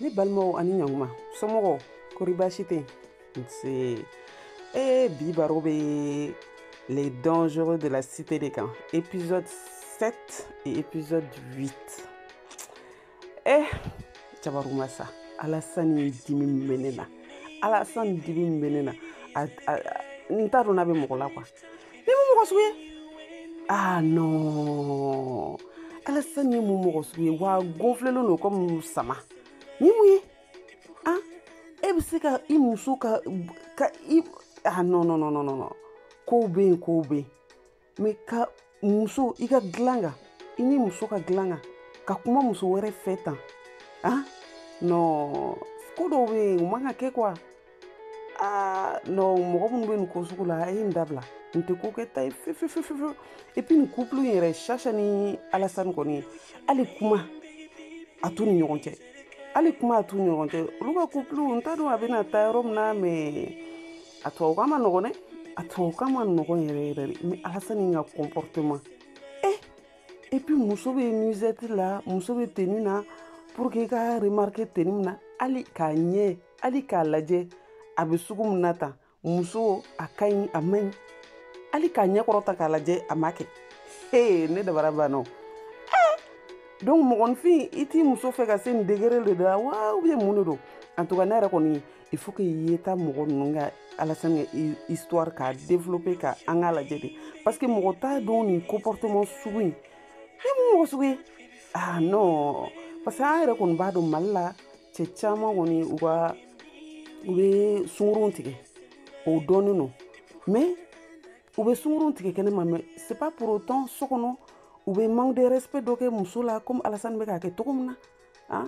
ne balimaw ani ɲanguma somɔgɔw kori baasi tɛ nse ee bi baro bɛ les dangereux de la cité de kan épisode 7 et épisode 8 eh jabaruma sa alasani dimi min bɛ ne na alasani dimi min bɛ ne na a a n t'a dɔn n'a bɛ mɔgɔ la quoi nin mun mɔgɔ sugu ye ah non alasani mun mɔgɔ sugu ye wa gonflélen don kɔmi sama ni mun ye ah e bɛ se ka i muso ka ka i ah non non non non non kow bɛ yen kow bɛ yen mais ka muso i ka dilan kan i ni muso ka dilan kan ka kuma muso wɛrɛ fɛ tan ah non ko dɔw bɛ yen u man ka kɛ quoi ah non mɔgɔ minnu bɛ nin ko sugu la a ye nin dabila nin tɛ ko kɛta ye fefefefefe et puis nin couple in yɛrɛ shasha ni alasani kɔni hali kuma a t'u ni ɲɔgɔn cɛ hali kuma a t'u ni ɲɔgɔn cɛ olu ka couple n t'a dɔn a bɛna taa yɔrɔ min na mais a tubabukan man nɔgɔn dɛ a tubabukan man nɔgɔn yɛrɛ yɛrɛ dɛ mais alasani ka comportement eh et puis muso bɛ nuisette la muso bɛ tenue na pour que i ka remarquer tenue min na hali k'a ɲɛ hali k'a lajɛ a bɛ sugu min na tan muso a ka ɲi a man ɲi hali k'a ɲɛ kɔrɔta k'a lajɛ a ma kɛ ee ne dabara banna o donc mɔgɔninfin i t'i muso fɛ ka se nin degré de la wa ou bien mun de don en tout cas ne yɛrɛ kɔni il faut que yeta mɔgɔ ninnu ka alasani ka histoire k'a développer ka an k'a lajɛ de parce que mɔgɔ t'a dɔn nin comportement sugu in nin mun mɔgɔ sugu ye ah non parce que an yɛrɛ kɔni b'a dɔn mali la cɛ caman kɔni u ka u bɛ sunkurunw tigɛ o dɔnnen don mais u bɛ sunkurunw tigɛ kɛnɛma mais c'est pas pour autant so kɔnɔ u bɛ manque de respect dɔ kɛ muso la comme alasani bɛ k'a kɛ cogo min na ah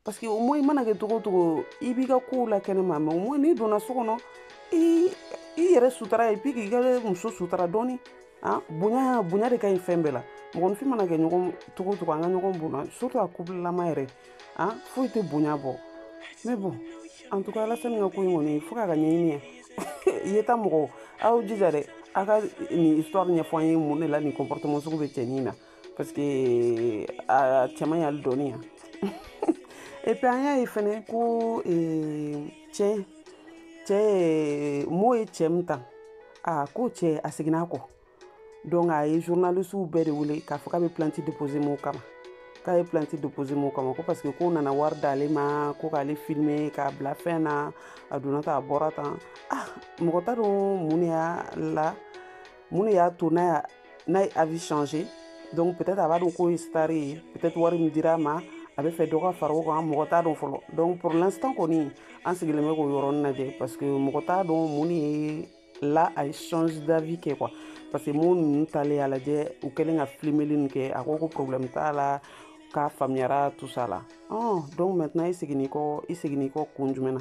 parce que au moins i mana kɛ cogo o cogo i b'i ka kow la kɛnɛma mais au moins n'i donna so kɔnɔ i yɛrɛ sutara et puis k'i ka muso sutara dɔɔni ah, bonya bonya de ka ɲi fɛn bɛɛ la mɔgɔninfin mana kɛ ɲɔgɔn cogo o cogo an ka ɲɔgɔn bonya surtout a couple lama yɛrɛ ah, foyi tɛ bonya bɔ mais bon en tout cas alasani ka ko in kɔni fo k'a ka ɲɛɲini ye yeta mɔgɔw aw jija dɛ a ka nin histoire ɲɛfɔ an ye mun de la nin comportement sugu bɛ cɛnin na parce que a cɛman y'ale dɔɔni yan et puis an y'a ye fɛnɛ ko cɛ cɛ mo ye cɛ min ta a ko cɛ a seginna a kɔ donc a ye journalisiw bɛɛ de wele k'a fɔ k'a bɛ plainte déposer mo kama k'a ye plainte déposer mo kama ko parce que k'o nana wari d'ale ma ko k'ale filmer k'a bila fɛn na a donna tan a bɔra tan ah mɔgɔ t'a dɔn mun de y'a la mun de y'a to n'a n'a ye avis changer donc peut-être a b'a dɔn k'o ye star ye peut-être wari min dira a ma a bɛ fɛ dɔ ka fara o kan mɔgɔ t'a dɔn fɔlɔ donc pour l'instant kɔni an sigilen bɛ k'o yɔrɔnin lajɛ parce que mɔgɔ t'a dɔn mun de ye la a ye change d'avis kɛ quoi parce que mun ninnu talen y'a lajɛ u kɛlen ka filimeli nin kɛ a ko ko problème t'a la k'a faamuyara tout ça là donc maintenant i seginni kɔ i seginni kɔ kun jumɛn na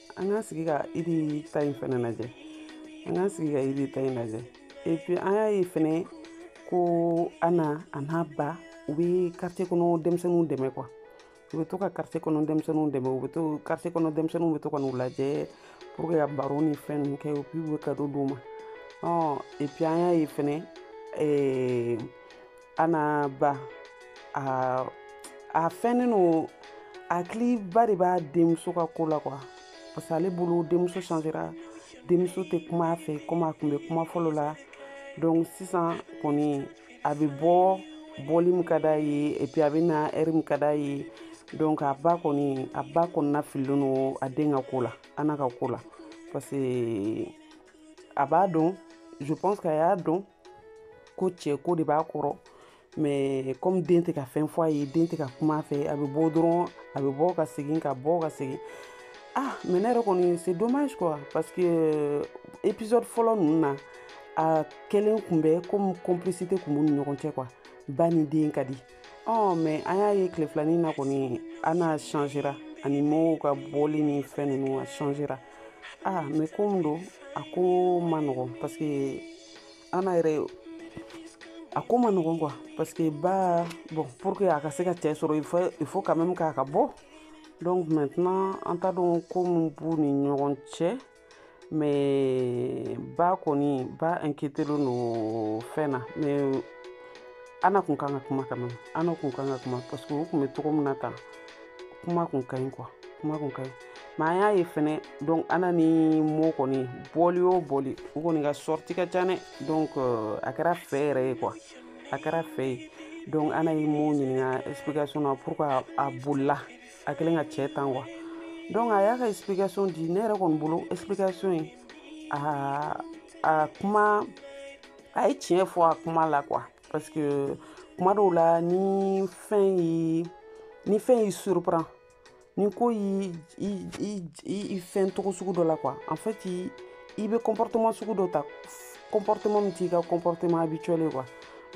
an ka sigi ka idi ta in fɛnɛ lajɛ an ka sigi ka idi ta in lajɛ et puis an y'a ye fɛnɛ ko ana a n'a ba u bɛ quartier kɔnɔ denmisɛnninw dɛmɛ quoi u bɛ to ka quartier kɔnɔ denmisɛnninw dɛmɛ u bɛ to quartier kɔnɔ denmisɛnninw bɛ to ka n'u lajɛ pour que ka baro ni fɛn ninnu kɛ u bɛ cadeau d'u ma et puis an y'a ye fɛnɛ ana ba a a fɛnnen don hakiliba de b'a denmuso ka ko la quoi parce que ale bolo denmuso changera denmuso tɛ kuma a fɛ comme a kun bɛ kuma fɔlɔ la donc sisan kɔni a bɛ bɔ bɔli min ka d'a ye et puis a bɛ na heure min ka d'a ye donc a ba kɔni a ba kɔnɔna fililen don a den ka ko la ana ka ko la parce que a b'a dɔn je pense que a y'a dɔn ko cɛ ko de b'a kɔrɔ mais comme den tɛ ka fɛn fɔ a ye den tɛ ka kuma a fɛ a bɛ bɔ dɔrɔn a bɛ bɔ ka segin ka bɔ ka segin ah mais ne yɛrɛ kɔni c'est dommage quoi parce que euh, épisode fɔlɔ ninnu na a kɛlen kun bɛ comme complicité kun b'u ni ɲɔgɔn cɛ quoi ba ni den ka di ɔ mais an y'a ye tile filanin na kɔni ana changera a ni mo ka bɔli ni fɛn ninnu a changera ah mais ko min don a ko ma nɔgɔn parce que ana yɛrɛ a ko ma nɔgɔn quoi parce que ba bon pour que a ka se ka cɛ sɔrɔ il faut il faut quand même k'a ka bɔ donc maintenant an t'a dɔn ko min b'u ni ɲɔgɔn cɛ mais ba kɔni ba inquiétélen don fɛn na mais ana kun kan ka kuma quand même ana kun kan ka kuma parce que o kun bɛ togo min na tan kuma kun ka ɲi quoi kuma kun ka ɲi mais an y'a ye fɛnɛ donc ana ni mo kɔni bɔli o bɔli u kɔni ka sorti ka ca dɛ donc euh, a kɛra fɛ yɛrɛ ye quoi a kɛra fɛ ye donc ana ye mo ɲininka explication na pourquoi a bolila a kɛlen ka cɛ tan wa donc a y'a ka explication di ne yɛrɛ kɔni bolo explication ye a a kuma a ye tiɲɛ fɔ a kuma la quoi parce que kuma dɔw la ni fɛn ye ni fɛn y'i surprend ni ko y'i i fɛn togo sugu dɔ la quoi en fait i bɛ comportement sugu dɔ ta comportement min t'i ka comportement habituel ye quoi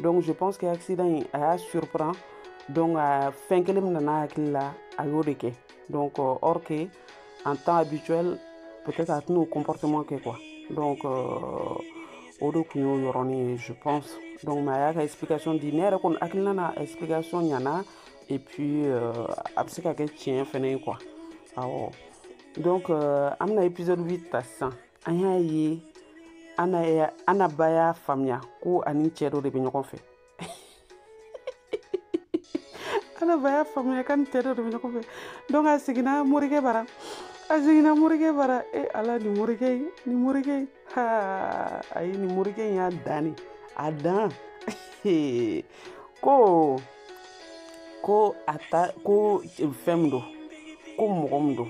donc je pense que accident in a y'a surprend donc a fɛn kelen min nan'a hakili la a y'o de kɛ donc or que en temps habituel peut-être a tɛn'o comportement kɛ quoi donc euh, o de kun y'o yɔrɔnin ye je pense donc mais a y'a ka explication di ne yɛrɛ kɔni hakilina na explication ɲana et puis euh, a bɛ se ka kɛ tiɲɛ fɛnɛ ye quoi awɔ donc euh, an bɛna épisode 8 ta sisan an y'a ye ana ba y'a faamuya ko a ni cɛ dɔ de bɛ ɲɔgɔn fɛ ana ba y'a faamuya k'a ni cɛ dɔ de bɛ ɲɔgɔn fɛ donc a seginna morikɛ bara a seginna morikɛ bara e ala ni morikɛ in ni morikɛ in ha ayi ni morikɛ in y'a dan de a dan ko ko a ta ko fɛn min don ko mɔgɔ min don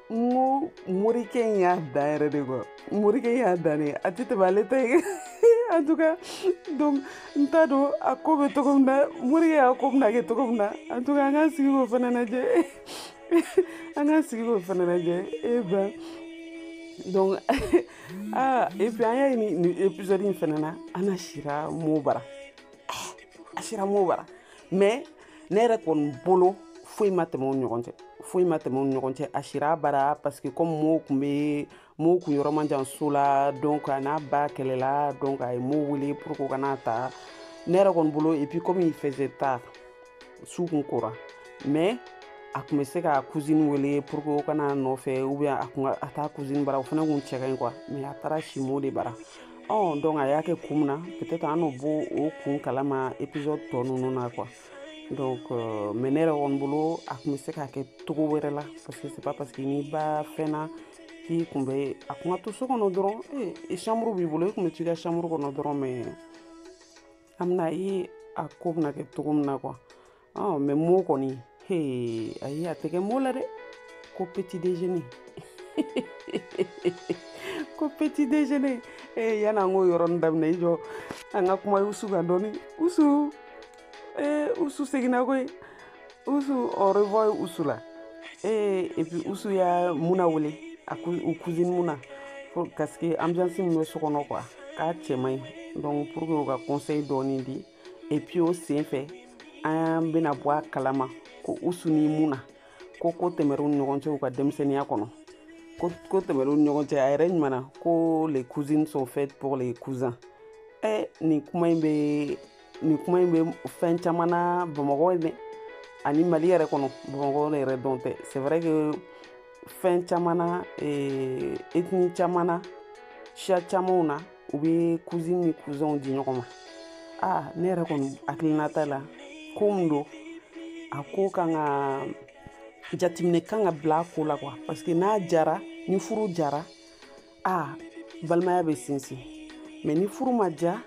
n ko morikɛ in y'a dan yɛrɛ de quoi morikɛ in y'a dan de a tɛ tɛmɛ ale ta ye en tout cas donc n t'a dɔn a ko bɛ cogo min na morikɛ y'a ko bɛna kɛ cogo min na en tout cas an k'an sigi k'o fana lajɛ an k'an sigi k'o fana lajɛ eh ben donc ah et puis an y'a ye nin nin épisode in fana na ana sira mo bara a sira mo bara mais ne yɛrɛ kɔni bolo foyi ma tɛmɛ u ɲɔgɔn cɛ foyi ma tɛmɛ u ɲɔgɔn cɛ a sir'a bara parce que comme mo kun bɛ mo kun yɔrɔ man jan so la donc a n'a ba kɛlɛla donc a ye mo wele pour que o ka n'a ta ne yɛrɛ kɔni bolo et puis comme il faisait tard su kun kora mais a kun bɛ se k'a cousine wele pour que o ka n'a nɔfɛ ou bien a kun a t'a cousine bara o fana kun cɛ ka ɲi quoi mais a taara si mo de bara ɔ donc a y'a kɛ kun min na peut-être an na bɔ o kun kalama épisode tɔ ninnu na quoi donc euh, mais ne yɛrɛ kɔni bolo a kun bɛ se k'a kɛ togo wɛrɛ la parce que c'est pas parce que n'i ba fɛnna k'i kun bɛ a kun ka to so kɔnɔ dɔrɔn ee eh, chambre b'i bolo i kun bɛ t'i ka chambre kɔnɔ dɔrɔn mais an bɛn'a ye a ko bɛna kɛ togo min na quoi ɔ mais mo kɔni he ayi a tɛ kɛ mo la dɛ ko petit déjeuner ko petit déjeuner ee yanni an k'o yɔrɔnin daminɛ i jɔ an ka kuma usu kan dɔɔni usu ee usu seginna koyi usu on revoit usu la ee et puis usu y'a muna wele a u cousine muna parce que ambiance min bɛ so kɔnɔ quoi k'a cɛ man ɲi donc pour que o ka conseil dɔɔni di et puis o sen fɛ an bɛna bɔ a kalama ko usu ni muna ko ko tɛmɛr'u ni ɲɔgɔn cɛ u ka denmisɛnninya kɔnɔ ko ko tɛmɛr'u ni ɲɔgɔn cɛ a yɛrɛ ɲuman na ko les cousines sont faites pour les cousins ɛ nin kuma in bɛ nin kuma in bɛ fɛn caman na bamakɔ ye dɛ ani mali yɛrɛ kɔnɔ bamakɔ yɛrɛ dɔrɔn tɛ c'est vrai que fɛn caman na ethnie caman na siya camanw na u bɛ cousine ni cousinw di ɲɔgɔn ma aa ne yɛrɛ kɔni hakilinata la ko min don a ko kan ka jateminɛ kan ka bila a ko la quoi parce que n'a jara ni furu jara aa balimaya bɛ sinsin mais ni furu ma ja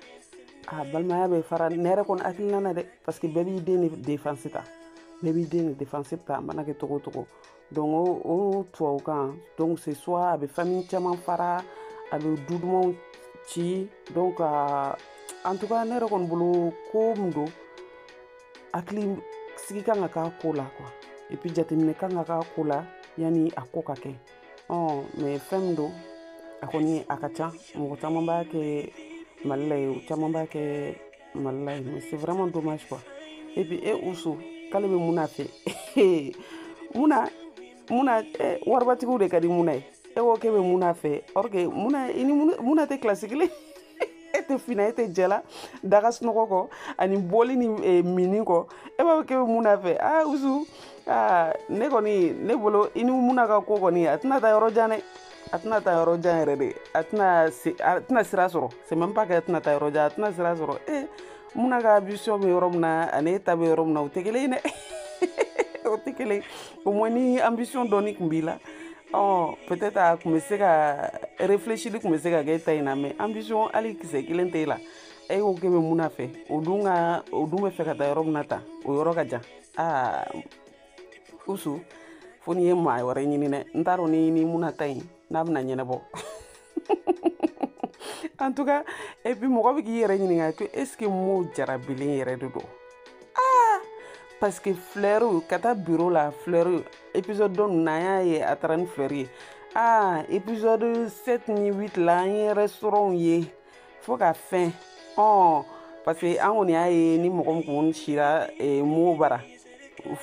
a balimaya bɛ fara ne yɛrɛ kɔni hakilina na dɛ parce que bɛɛ b'i den de défense ta bɛɛ b'i den de défense ta a mana kɛ cogo o cogo donc o o tubabukan donc c'est soit a bɛ famille caman fara a bɛ du dumanw ci donc a en tout cas ne yɛrɛ kɔni bolo ko min don hakili sigi kan ka k'a ko la quoi et puis jateminɛ kan ka k'a ko la yanni a ko ka kɛ ɔ mais fɛn min don a kɔni a ka ca mɔgɔ caman b'a kɛ mali la ye o caman b'a kɛ walayi mais c'est vraiment dommage quoi et puis e usu k'ale bɛ muna fɛ muna muna eh, waribatigiw de ka di muna ye e ko k'e bɛ muna fɛ or que muna i ni muna tɛ kilasi kelen e tɛ fin na e tɛ jɛ la daga sunɔgɔ kɔ ani bɔli ni eh, mini kɔ e b'a fɔ k'e bɛ muna fɛ aa usu aa ne kɔni ne bolo i ni muna ka ko kɔni a tɛna taa yɔrɔ jan dɛ a tɛna taa yɔrɔ jan yɛrɛ de a tɛna a tɛna sira sɔrɔ c'est même pas que a tɛna taa yɔrɔ jan a tɛna sira sɔrɔ ee eh, muna ka ambition bɛ yɔrɔ min na ani e ta bɛ yɔrɔ min na o tɛ kelen ye dɛ o tɛ kelen au moins ni ambition dɔɔni tun b'i la ɔ peut-être a tun bɛ se ka réfléchili tun bɛ se ka kɛ e ta in na mais ambition hali kisɛ kelen tɛ e la e ko k'e bɛ muna fɛ o dun ka o dun bɛ fɛ ka taa yɔrɔ min na tan o yɔrɔ ka jan aa usu fo n'i ye maa wɛrɛ ɲini dɛ n t'a dɔn ni ni muna ta in n'a bɛna ɲɛnabɔ en tout cas et puis mɔgɔ bɛ k'i yɛrɛ ɲininka ko est ce que mo jarabilen yɛrɛ de don ah parce que fleur ka taa bureau la fleur épisode dɔ ninnu na an y'a ye a taara ni fleur ye ah épisode 7 ni 8 la an ye restaurant ye fo ka fɛn ɔn parce que an kɔni y'a ye ni mɔgɔ min kun sira eh, mo bara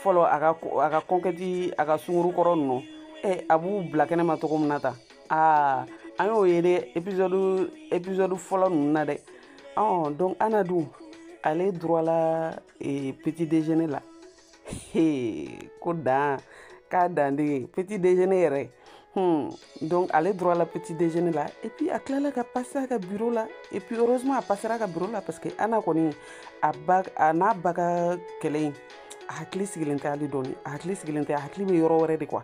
fɔlɔ a ka a ka conquête a ka sunguru kɔrɔ ninnu eh, a b'u bila kɛnɛ ma cogo min na tan aa an y'o ye dɛ épisode épisode fɔlɔ ninnu na dɛ ɔn donc ana dun ale droit la eh, petit déjeuner la ko dan k'a dan de petit déjeuner yɛrɛ hmm. donc ale droit la petit déjeuner la et puis a tilala ka passer a ka bureau la et puis heureusement a passera a ka bureau la parce que ana kɔni a ba a n'a ba ka kɛlɛ in a hakili sigilen tɛ hali dɔɔni a hakili sigilen tɛ a hakili bɛ yɔrɔ wɛrɛ de quoi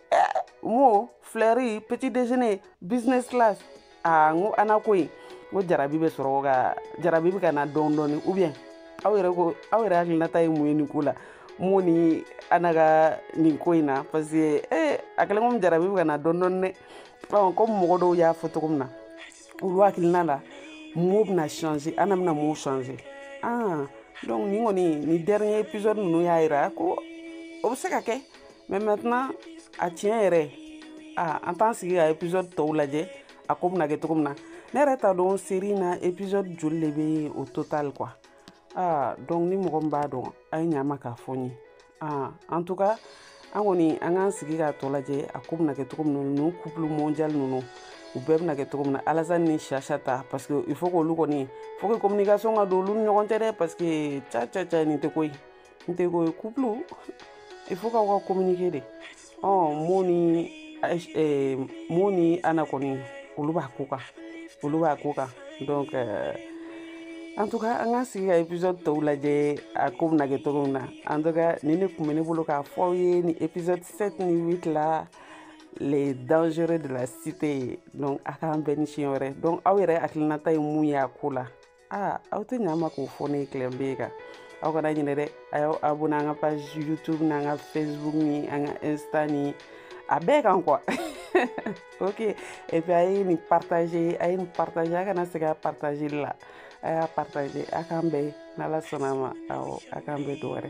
mo filɛri petit déjeuner business class aa n ko ana ko ye n ko jarabi bɛ sɔrɔ ka jarabi bɛ ka na dɔɔni dɔɔni ou bien aw yɛrɛ ko aw yɛrɛ hakilinata ye mun ye nin ko la mo ni ana ka nin ko in na parce que eh, a kɛlen komi jarabi bɛ ka na dɔɔni dɔɔni dɛ ɔ komi mɔgɔ dɔw y'a fɔ cogo min na olu hakilina la mo bɛna changer ana bɛna mo changer ah donc nin kɔni nin dernier épisode ninnu y'a yira ko o bɛ se ka kɛ mais maintenant a tiɲɛ yɛrɛ aa an t'an sigi ka épisode tɔw lajɛ a ko bɛna kɛ cogo min na ne yɛrɛ t'a dɔn série na épisode joli de bɛ au total quoi aa donc ni mɔgɔ min b'a dɔn a ye ɲa ma k'a fɔ n ye aa en tout cas an kɔni an k'an sigi k'a tɔ lajɛ a ko bɛna kɛ cogo min na ninnu couple mondial ninnu u bɛɛ bɛna kɛ cogo min na alassane ni chacha ta parce que il faut k'olu kɔni faut que communication ka don olu ni ɲɔgɔn cɛ dɛ parce que ca ca ca nin tɛ ko ye n tɛ ko ye couple il faut k'aw ka communiquer dɛ ɔ mo ni eh, mo ni ana kɔni olu b'a ko kan olu b'a ko kan donc euh, en tout cas an k'an sigi ka épisode tɔw lajɛ a ko bɛna kɛ cogo min na en tout cas nin de tun bɛ ne bolo k'a fɔ aw ye nin épisode 7 ni 8 la les dangereux de la cité donc a k'an bɛn ni siɲɛ wɛrɛ donc aw yɛrɛ hakilinata ye mun ye a ko la aa aw tɛ ɲa ma k'o fɔ ne ye clem b kan aw kana ɲinɛ dɛ a y'aw abonné an ka page youtube n'an ka facebook ni an ka insta ni a bɛɛ kan quoi ok et puis a ye nin partager a ye nin partager a kana sɛgɛn a partager la a y'a partager a k'an bɛn n'ala sɔnna a ma awɔ a k'an bɛn don wɛrɛ